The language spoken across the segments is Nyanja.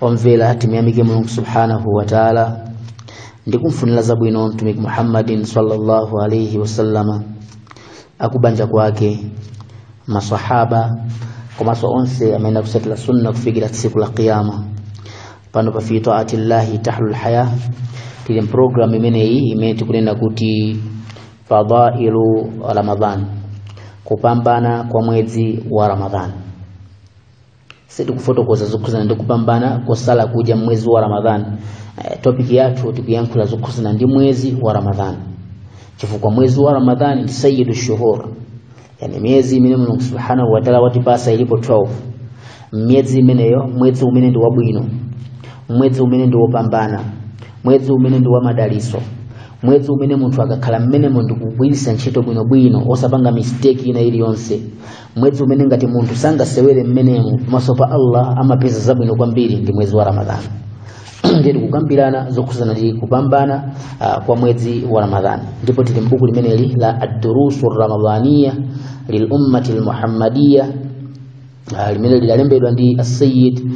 omvera timuyamike mulungu subhanahu wa taala ndi kumfunira zabwino mtumiki muhammadin sallallahu alaihi wasallama akubanja kwake masahaba komanso onse amene akutsatira sunna kufikira tsiku la qiyama pano pa fi taati llahi tahlul haya tili mpulogalamu imeneyi imene tikunena kuti fadailu ramadan kupambana kwa mwezi wa ramadan sitikufotokoza zokhuzana ndi kupambana kwa kusala kudya mwezi wa ramadhani e, topiki yathu tikuyankhula zokhuzana ndi mwezi wa ramadhani chifukwa mwezi wa ramadhani ndi sayyidu shuhur yani miyezi imene mulungu subhanahu wataala watipasa ilipo 12 miyezi imeneyo mwezi umene ndi wabwino mwezi umene ndi wopambana mwezi umene ndi wamadaliso mwezi umene munthu akakhala mmenemo ndi kugwiritsa ntchito bwinobwino osapanga mistake ina iliyonse mwezi umene ngati munthu sangasewere mmenemo pamaso pa allah amapeza zabwino kwambiri ndi mwezi wa ramadhani ndiye tikukambirana zokhuzana ndi kupambana kwa mwezi wa ramadhani ndipo tili mbuku limeneli la addurusu ramadhaniya lilummati lmuhammadiya uh, limene lidalembedwa ndi asayid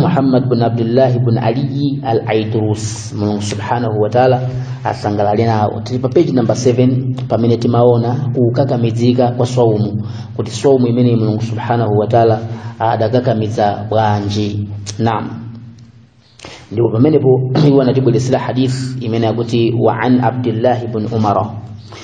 muhammad bn abdullahi bn aliyi al aidurusi mulungu subhanahu wataala asangalale nawo tili pa page number 7 pamene timaona kukakamidzika kwa swaumu kuti swaumu imeneyi mulungu subhanahu wataala adakakamidza bwanji naam ndipo pamenepo iwo anatibweretsera hadith imene yakuti wa an abdillahi bn umara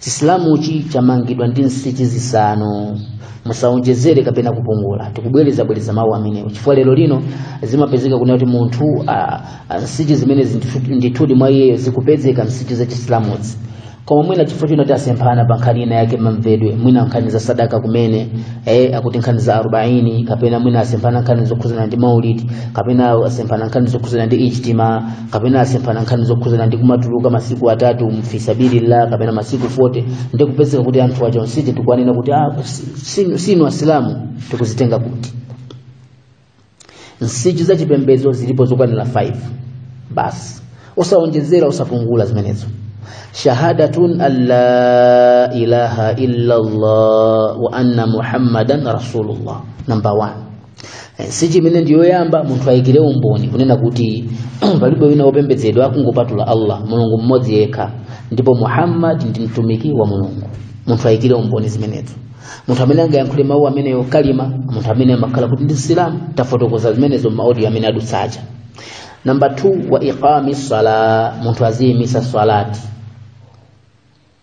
chisilamuchi chamangidwa ndi nsichi zisanu musaonjezere kapena kupungula tikubwereza bwereza mawu amenewo chifukwa lero lino zimapezeka kunena kuti munthu ah, ah, nsichi zimene zindithu- ndithudi mwa iyeyo zikupezeka nsichi za chisilamuzi koma mwina chifukwa choti tasemphana pa nkhani ina yake mamvedwe mwina nkhani za sadaka kumene eh, akuti nkhani za arobaini kapena mwina asemphana nkhani zokhudzana ndi maulidi kapena asemphana nkhani zokhudzana ndi ijtima kapena asemphana nkhani zokhuzana ndi kumatuluka masiku atatu mfisabilillah kapena masiku 40 ndi kupezeka kuti anthu aja ndi tikuwanena kuti ah, sinu, sinu asilamu tikuzitenga kuti nsichi za chipembedzo zilipo zokwanira 5 basi osawonjezera osapungula zimenezo shahadatu an la ilaha illa llah wa anna muhammadan rasulullah number 1 Eh, nsichi imene ndi yoyamba munthu ayikire umboni kunena kuti palibe wina wopembedzedwa kungopatula allah mulungu mmodzi yekha ndipo muhammad ndi mtumiki wa mulungu munthu ayikire umboni zimenezo munthu amene angayankhule mawu ameneyo kalima munthu amene amakhala kuti ndi msilamu tafotokoza zimenezo m'maaudio amene adutsa aja namba 2 wa iqami sala munthu aziyimisa salati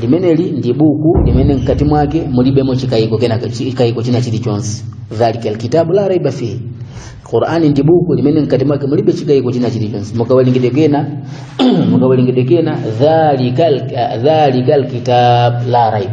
limeneli ndi buku limene mkati mwake mulibemo chikayiko china chilichonse dhalika alkitabu la raiba fihi qurani ndi buku limene mkati mwake mulibe chikayiko china chilichonse mukawerengedwe kena dhalika alkitab la raiba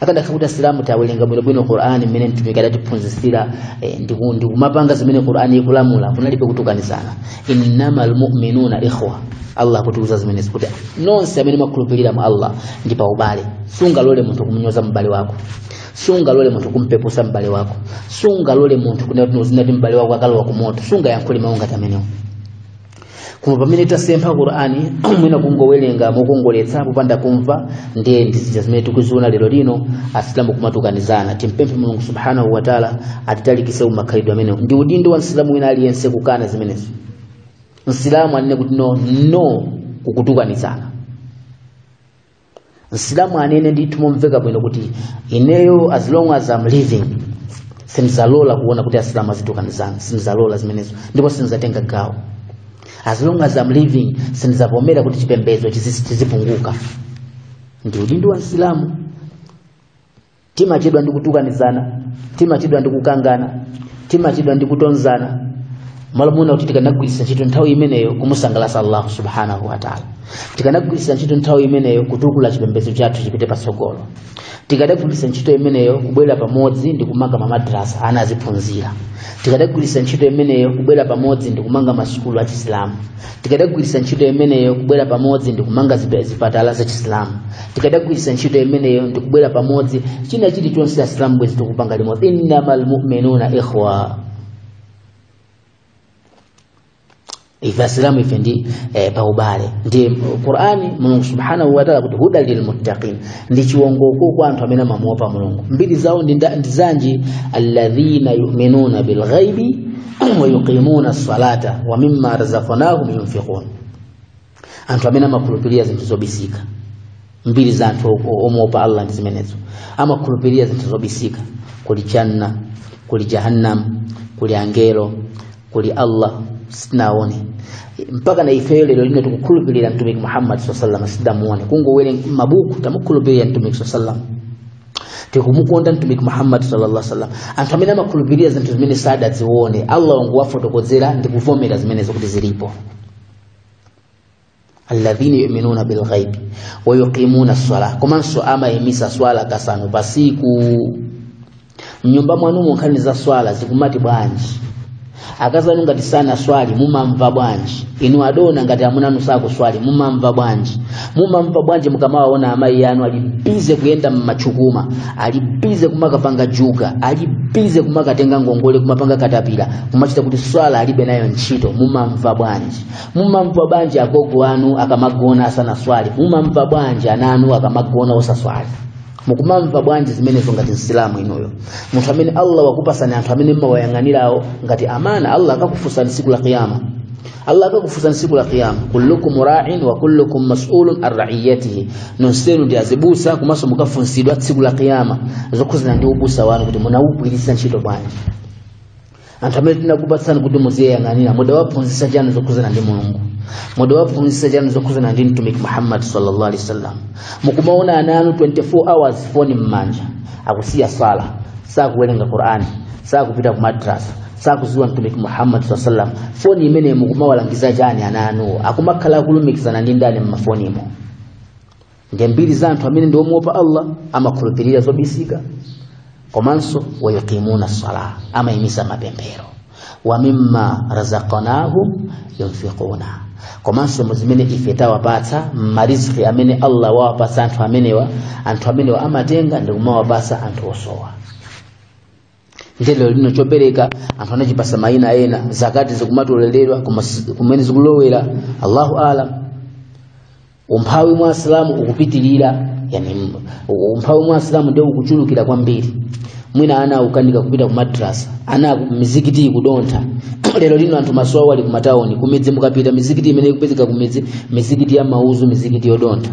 akadakhala kuti asilamu tawerenga bwinobwino qur'ani mmene mtumiki adatiphunzitsira ndikumapanga zimene qur'ani ikulamula kunalibe kutukanizana innama almuminuna ikhwa allah akutiuza zimenezi kuti nonse amene mwakhulupirira mwa allah ndi pa ubale sungalole munthu kumunyoza m'bale wako sungalole munthu kumpepusa m'bale wako sungalole munthu kunena kuti m'bale wako akalowa ku moto sungayankhule mawu ngati amenewo koma pamene tasempha qur'ani mwina kungowerenga mokongoletsa popanda kumva ndiye ndi zija zimene tikuziona lero lino asilamu kumatukanizana timpemphe mulungu subhanahu wataala atitalikise kumakhalidwe amenewo ndi udindo wa msilamu wina aliyense kukana zimenezo msilamu anene kuti no no kukutukanizana msilamu anene ndithu momveka bwino kuti ineyo as long as I'm living sindizalola kuona kuti asilamu azitukanizana sindizalola zimenezo ndipo sindizatenga gawo as long as I'm living sindizavomera kuti chipembedzo chizipunguka ndi udindo wa msilamu timachedwa ndi kutukanizana timachedwa ndi kukangana timachedwa ndi kutonzana malo mwina kuti tikanagwiritsa ntchito nthawi imeneyo kumusangalatsa allahu subhanahu wataala tikanagwiritsa ntchito nthawi imeneyo kutukula chipembedzo chathu chipite patsogolo tikadagwiritsa ntchito imeneyo kubwera pamodzi ndi kumanga mamadrasa ana aziphunzira tikadagwiritsa ntchito imeneyo kubwera pamodzi ndi kumanga masukulu achisilamu tikadagwiritsa ntchito imeneyo kubwera pamodzi ndi kumanga zipatala za chisilamu tikadagwiritsa ntchito imeneyo ndi kubwera pamodzi china chilichonse asilamu bwezi tikupanga limodzi innama lmuminuna ikhwa asilamu ife ndi paubale ndi qurani mulungu subhanahu wataala kuti huda lilmuttaqin ndi chiwongoko kwa anthu amene amamuopa mulungu mbiri zawo ndi zanji alladhina yuminuna bilghaibi wa yuqimuna salata wa mimma razaqnahum yunfiqun anthu amene amakhulupirira zinthu zobisika mbiri za anthu omuopa allah ndi zimenezo amakhulupirira zinthu zobisika kuli janna kuli jahannam kuli angelo kuli allah sitinaone mpaka na ifeyo lero lino tikukhulupirira mtumiki muhammad saa salam sitidamuone kungowerenga mabuku tamukhulupirira mtumiki saa salam tikumukonda mtumiki muhammad sallallahu alaihi wasallam anthu amene amakhulupirira zinthu zimene sadazione allah wangowafotokozera ndi kuvomera zimenezo kuti zilipo alladhina yu'minuna bil ghaibi wa yuqimuna as-salah komanso amayimisa swala kasanu pasiku mnyumba mwanumo nkhani za swala zikumati bwanji akazi anu ngati sanaswali mumamva bwanji inu adona ngati amuna anu sakuswali mumamva bwanji mumamva bwanji mukamawaona amayi anu ali bize kuyenda m'machukuma ali bize kumakapanga juga ali bize kumakatenga ngongole kumapanga katapira kumachita kuti swala alibe nayo ntchito mumamva bwanji mumamva bwanji agogo anu akamagona asanaswali mumamva bwanji ana anu akamagona osaswali mukumamva bwanji zimenezo ngati msilamu inuyo munthu amene allah wakupasani anthu amene mmawayang'anirawo ngati amana allah akakufunsani siku la kiyama allah akakufunsani siku la kiyama kullukum ra'in wa kullukum mas'ulun an ra'iyatihi nonsenu ndi azibusa komanso mukafunsidwa tsiku la kiyama zokhuzana ndi ubusa wanu kuti munawugwiritsa ntchito bwanji anthu amene tinakupatsani kuti muziyang'anira mudawaphunzitsa chani zokhuzana ndi mulungu mudawaphunzitsa chani zokhuzana ndi mtumiki muhammad sallallahu alaihi wasallam mukumaona ana anu 24 hours foni m'manja akusiya swala sakuwerenga qur'ani sakupita ku madrasa sakuziwa mtumiki muhammad sallallahu alaihi wasallam foni imene mukumawalangiza chani ana anuwo akumakhala akulumikizana ndi ndani m'mafonimo nde mbiri za anthu amene ndi omuopa allah amakhulupirira zobisika komanso wayuqimuna sala amayimisa mapemphero wa mimma razaqnahum yunfiquna komanso mu zimene ife tawapatsa mariziki amene allah wawapatsa anthu amenewa anthu amenewa amatenga ndi kumawapatsa anthu osowa ndiye lero lino chopereka anthu anachipasa mayina ena zakati zikumatoleredwa koma si- kumene zikulowera allahu alam umphawi mwa asilamu ukupitirira yani m- u- umphawi mwa asilamu ndio ukuchulukira kwambiri mwina ana akukanika kupita ku madrasa ana aku- mizikiti ikudontha lero lino anthu maso awo ali kumatawuni kumidzi mukapita mizikiti imene ikupezeka kumidzi mizikiti ya mauzu mizikiti yodontha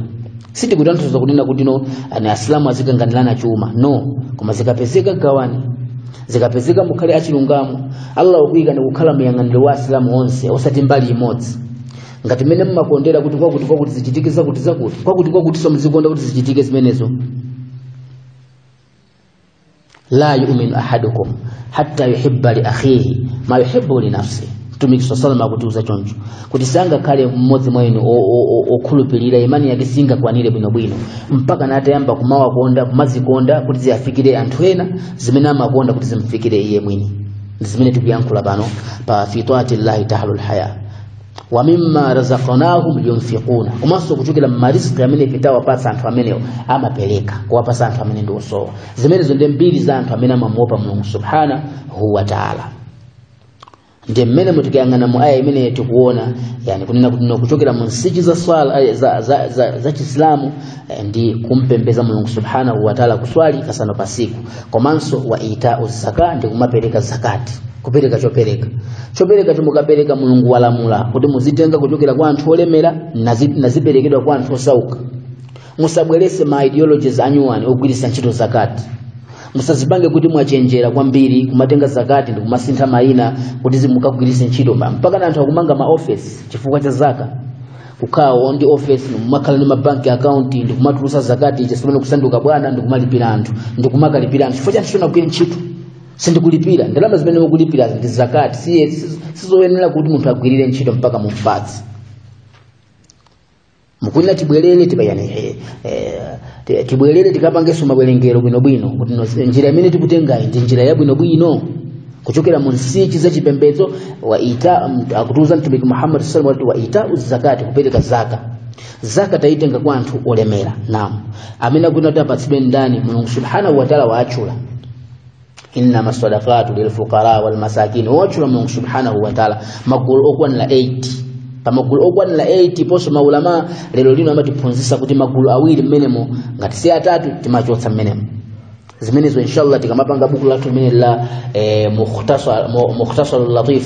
sitikutanthauza kunena kuti no yani asilamu azikanganirana chuma no koma zikapezeka gawani zikapezeka mukhale achilungamo allah wakuyikani kukhala muyang'aniro wa asilamu onse osati mbali imodzi ngati mmene mmakondera kuti kwakuti kwakuti zichitike zakuti zakuti kwakuti kwakuti so muzikonda kuti zichitike zimenezo la yu'minu ahadukum hatta yuhibba li akhihi ma yuhibbu li nafsihi mtumiki sallallahu alaihi wasallam akutiuza choncho kuti sangakhale mmodzi mwa inu o- o- o- okhulupirira imani yake singakwanire bwinobwino mpaka natayamba kumawakonda kumazikonda kuti ziyafikire anthu ena zimene amakonda kuti zimfikire iye mwini ndi zimene tikuyankhula pano pa fitwati llahi tahlul haya wa mimma razaqnahum yunfiquna komanso kuchokera m'mariziki amene ife tawapatsa anthu amenewo amapereka kuwapatsa anthu amene ndi osowa zimenezo ndi mbiri za anthu amene amamuopa mulungu subhanahu wa taala ndiye mmenemu tikayang'ana mu aya imene tikuona yani kunena kuti kuchokera mu nsichi za swala eh, za, za, za, za chisilamu eh, ndi kumpembeza mulungu subhanahu wa taala kuswali kasano pasiku komanso wa itau zaka ndi kumapereka zakati kupereka chopereka chopereka chomukapereka mulungu walamula kuti muzitenga kuchokera kwa anthu olemera nizi- niziperekedwa kwa anthu osauka musabwerese ma ideologies anuwani ogwiritsa ntchito zakati musazipange kuti mwachenjera kwambiri kumatenga zakati ndi kumasintha mayina kuti zimukagwiritse ntchito ma- mpaka na anthu akumanga ma office chifukwa cha zaka kukhawo ndi office ndikumakhala ndi mabanki account ndikumatolesa zakati chasopano kusanduka bwana ndikumalipira anthu ndikumakalipira anthu chifukwa choti anagwira ntchito sindikulipira ndalama zimene mukulipira ndi zakati siye si- sizoyenera kuti munthu agwirire ntchito mpaka mumpatse ndikunena tibwerere tikayani eh, eh, ti- tibwerere tikapangenso mabwerengero bwinobwino kuti no- njira imene tikutengayi ndi njira yabwinobwino kuchokera mu nsichi za chipembedzo wa ita m- akutiuza mtumiki muhammad sallallahu alaihi wasallam wa ita zakati kupereka zaka zaka taitenga kwa anthu olemera naam amene akuyenera kuti apatsidwe ndani mulungu subhanahu wataala waatchula innama sadaqatu lilfuqara walmasakin watchula mulungu subhanahu wataala magulu okwanira 8 pamagulu okwanira 8 ponso maulama lero lino amatiphunzitsa kuti magulu awiri mmenemo ngati si atatu timachotsa mmenemo zimenezo inshallah tikamapanga buku lathu limene la eh, mukhtasar mu- mukhtasarul latif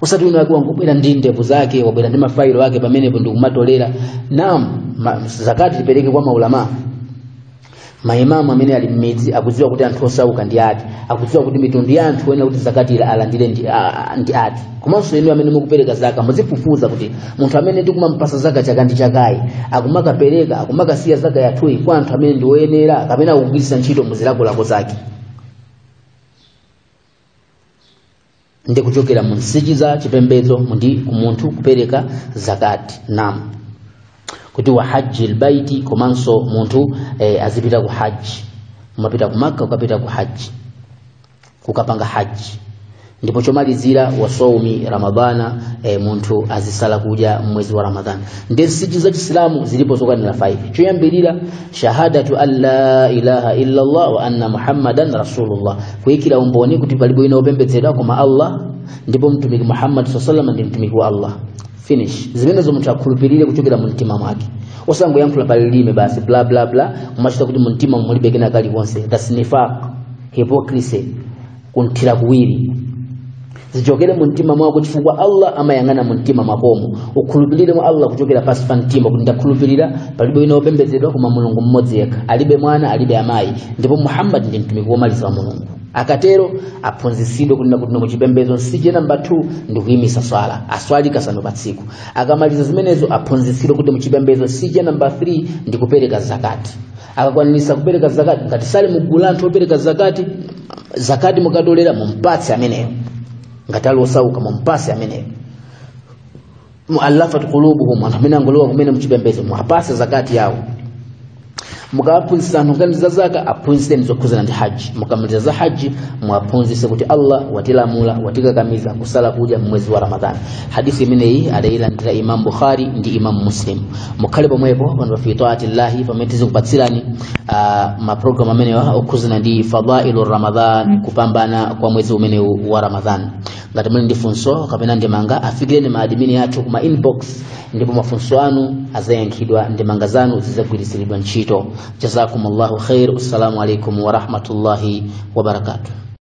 osati wina wake wangobwera ndi ndevu zake wabwera ndi mafailo ake pamenepo ndikumatolera naam ma, zakati tipereke kwa maulama maimamu amene ali mmidzi akudziwa kuti anthu osauka ndi ati akudziwa kuti mitundu ya anthu oyenera kuti zakati ila alandire ndi, a, ndi ati komanso inu amene mukupereka zaka muzifufuza kuti munthu amene tikumampasa zaka chaka ndi chakayi akumakapereka akumakasiya zaka yathuyi kwa anthu amene ndi oyenera kapena akugwiritsa ntchito muzilakolako zake ndi kuchokera mu nsichi za chipembedzo ndi kuti munthu kupereka zakati naam kuti wa haji lbaiti komanso munthu eh, azipita ku haji kumapita ku makka kumapita ku haji kukapanga haji ndipo chomalizira wasoumi ramadhana e, munthu azisala kudya mwezi wa ramadhana ndi nsichi za chisilamu zilipo zokwanira 5 choyambirira shahadatu an la ilaha illa allah wa anna muhammadan rasulullah kuikira umboni kuti palibe wina wopembedzedwa koma allah ndipo mtumiki muhammad saa salama ndi mtumiki wa allah finish zimenezo munthu akhulupirire kuchokera mu mtima mwake osangoyankhula pa lilime basi bla bla bla kumachita kuti mu mtima mulibe kena kalikonse that's nifaq hypocrisy kuthira kuwiri zichokere mu mtima mwako chifukwa allah amayang'ana mu mtima mwakomo ukhulupirire mwa allah kuchokera pansi pa mtima kuti ndakhulupirira palibe wina wopembedzedwa koma mulungu mmodzi yekha alibe mwana alibe amayi ndipo muhammadi ndi mtumiki womaliza wa mulungu akatero aphunzitsidwe kunena kuti muchipembedzo nsichi namba 2 ndi kuyimisa swala aswali kasanu pa tsiku akamaliza zimenezo aphunzitsidwe kuti muchipembedzo nsichi namba 3 ndi kupereka zakati akakwanisa kupereka zakati ngati sali mugulu la anthu opereka zakati zakati mukatolera mumpatse ameneyo ngati ali osauka mumpatse ameneyo muallafat qulubuhum anthu amene angolowa kumene mchipembedzo muwapatse zakati yawo mukawaphunzitsa anthu nkhani za zakat aphunzitseni zokhuzana ndi haji mukamaliza za haji muwaphunzitse kuti allah watilamula watikakamiza kusala kudya mmwezi wa ramadhani hadisi imeneyi adayilandira imam bukhari ndi imam muslim mukhale pomwepo pano fi taati llahi pamene tizikupatsirani ah, mapulogalamu amenewa okhuzana ndi fadailu ramadan kupambana kwa mwezi umenewu wa ramadan ngati muli ndi funso kapena ndemanga afikireni maadimini athu kuma inbox ndipo mafunso anu azayankhidwa ndemanga zanu zizagwiritsiridwa ntchito jazakum llahu khair assalamu alaikum warahmatullahi wabarakatuh